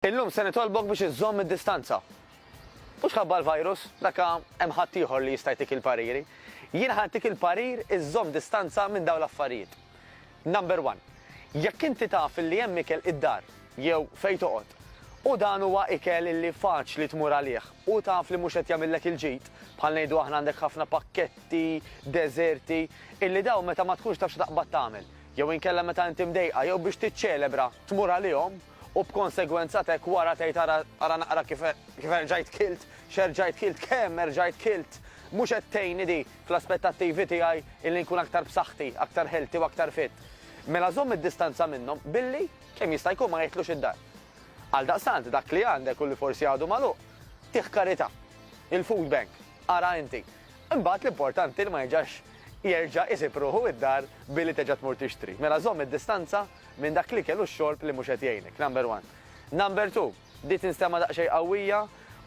Illum se nitolbok biex iżżomm id-distanza. Mhux ħabba l-virus, dakka hemm ħadd ieħor li jista' jtik il-pariri. Jien ħa ntik il-parir iżżomm distanza minn dawn l-affarijiet. Number one, jekk inti taf illi hemm ikel id-dar jew fejn toqgħod u dan huwa ikel illi faċli tmur għalih u taf li mhux qed jagħmillek il-ġid, bħal ngħidu aħna għandek ħafna pakketti, deżerti, illi dawn meta ma tkunx taf xi taqbad tagħmel, jew inkella meta inti mdejqa jew biex tiċċelebra tmur għalihom, U b'konsegwenza t'hekk wara tgħid ara ara naqra kif kif erġajt kilt, x'erġajt kilt, kemm erġajt kilt. Mhux qed tgħinni di fl-aspettattivi tiegħi illi nkun aktar b'saħħti, aktar healthy u aktar fit. Mela żomm id-distanza minnhom billi, kemm jista' jkun ma jidħlux id-dar. Għaldaqstant dak li għandek u li forsi għadu magħluq, tih karità. Il-food bank, ara inti. Imbagħad l-importanti li ma jiġax jerġa' isib ruħu id-dar billi terġa' tmur tixtri. Mela żomm id-distanza. minn dak l-ikel u x-xorb li mhux qed jgħinek, number one. Number two, di tinstema' daqsxejn qawwija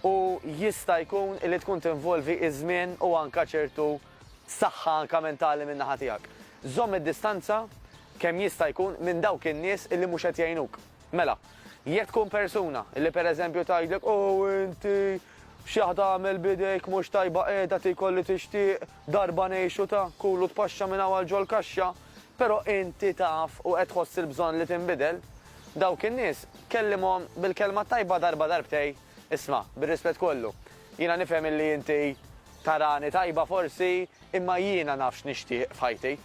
u jista' jkun illi tkun tinvolvi iż-żmien u anke ċertu saħħa anke mentali min-naħa tiegħek. Żomm id-distanza kemm jista' jkun minn dawk in-nies illi mhux qed jgħinuk. Mela, jekk tkun persuna illi pereżempju tgħidlek, Ow inti, x'jaħ tagħmel b'idejk mhux tajba qiegħda tiekol li tixtieq, Darba ngħixu ta' kul u tpaxxa minn hawn għal ġol-kaxxa, però inti taf u qed tħoss il-bżonn li tinbidel. Dawk in-nies, kellimhom bil-kelma t-tajba darba darbtej, isma', bir-rispett kollu, jiena nifhem illi inti tarani tajba forsi, imma jiena naf x'nixtieq f'ħajti.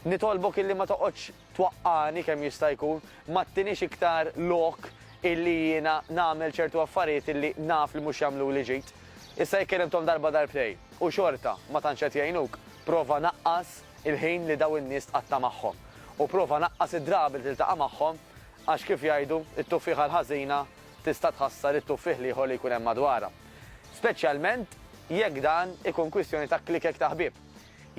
Nitolbok illi ma toqgħodx. twaqqagħni kemm jista' jkun, ma ttinix iktar lok illi jiena nagħmel ċertu affarijiet illi naf li mhux jagħmluli ġid. Issa jekk kellimthom darba darbtejn u xorta ma tantx qed jgħinuk, prova naqqas il-ħin li dawn in-nies tqatta' magħhom. U prova naqqas id-drabi li tiltaqa' magħhom għax kif jgħidu, it-tuffieħa l-ħażina tista' tħassar it-tuffieħ l-ieħor li jkun hemm madwarha. Speċjalment jekk dan ikun kwistjoni ta' klikek ta' ħbieb.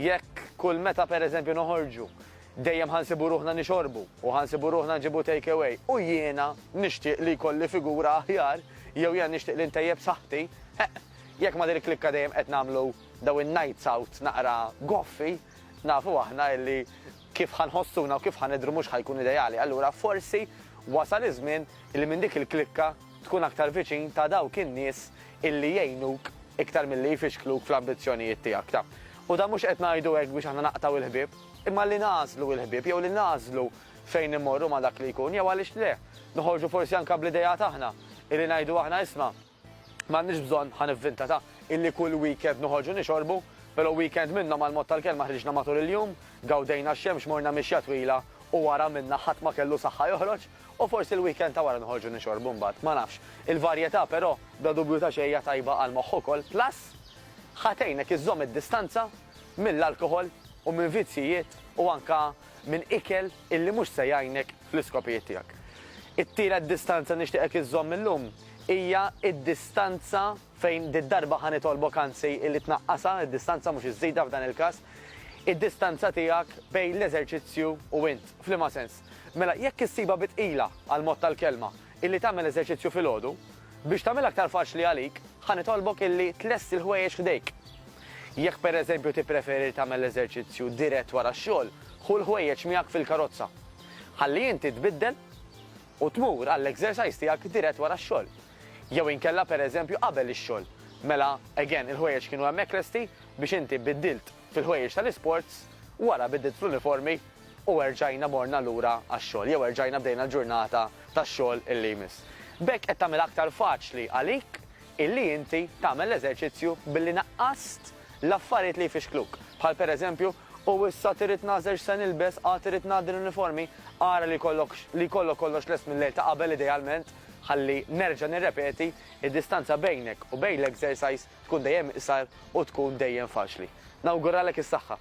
Jekk kull meta pereżempju noħorġu dejjem ħa nsibu ruħna nixorbu u ħa nsibu ruħna nġibu take-away u jiena nixtieq li jkolli figura aħjar jew jiena nixtieq li ntejjeb saħħti, eħ, jekk ma' din il-klikka dejjem qed nagħmlu dawn in-nights out naqra goffi, nafu aħna illi Kif ħa nħossuna u kif ħa nidhru mhux ħa jkun ideali. Allura forsi wasal iż-żmien illi minn dik il-klikka tkun aktar viċin ta' dawk in-nies illi jgħinuk iktar milli jfixkluk fl-ambizzjonijiet tiegħek ta'. U dan mhux qed ngħidu hekk biex aħna naqtgħu l-ħbieb, imma li nagħżlu l-ħbieb jew li nagħżlu fejn immorru ma' dak li jkun jew għaliex le, noħorġu forsi anke bl-ideat aħna illi ngħidu aħna isma', M'għandniex bżonn, ħa nivvinta, ta' illi kull weekend noħorġu nixorbu, pero' weekend minnhom għall-mod tal-kelma ħriġna matul il-jum, gawdejna x-xemx, morna mixja twila u wara minna ħadd ma kellu saħħa joħroġ u forsi l-weekend ta' wara noħorġu nixorbu mbagħad, ma nafx. Il-varjetà pero' bla dubju ta' xejn hija tajba għall-moħħ ukoll plus ħa tgħinek iżżomm id-distanza mill-alkoħol u minn vizzjijiet u anka minn ikel illi mhux se jgħinek fl-iskopijiet tiegħek. It-tielet distanza nixtieqek iżżomm illum hija d-distanza fejn did-darba ħa nitolbok anzi illi tnaqqasha, id-distanza mhux iżżidha f'dan il-każ, id-distanza tiegħek bejn l-eżerċizzju u int. F'liema sens? Mela, jekk issibha bi tqila għall-mod tal-kelma, illi tagħmel eżerċizzju filgħodu, biex tagħmilha aktar faċli għalik, ħa nitolbok illi tlesti l-ħwejjeġ f'idejk. Jekk pereżempju tippreferi li tagħmel l-eżerċizzju dirett wara x-xogħol, ħu l-ħwejjeġ miegħek fil-karozza. Ħalli inti tbiddel u tmur għall-exercise tiegħek dirett wara x-xogħol. Jew inkella pereżempju qabel ix-xogħol. Mela, again, il-ħwejjeġ kienu hemmhekk lesti biex inti biddilt fil-ħwejjeġ tal-isports, wara biddilt fl-uniformi u erġajna morna lura għax-xogħol jew erġajna bdejna l-ġurnata tax-xogħol illi jmiss. B'hekk qed tagħmilha aktar faċli għalik illi inti tagħmel l-eżerċizzju billi naqqast l-affarijiet li jfixkluk, bħal pereżempju, U issa trid nagħżel x'se nilbes, għad irid ngħaddi l-uniformi, ara li jkollok li jkollok kollox lest mil-lejl ta' qabel idealment, ħalli nerġa' nirrepeti, id-distanza bejnek u bejn l-exercise tkun dejjem iqsar u tkun dejjem faċli. Nawguralek is-saħħa!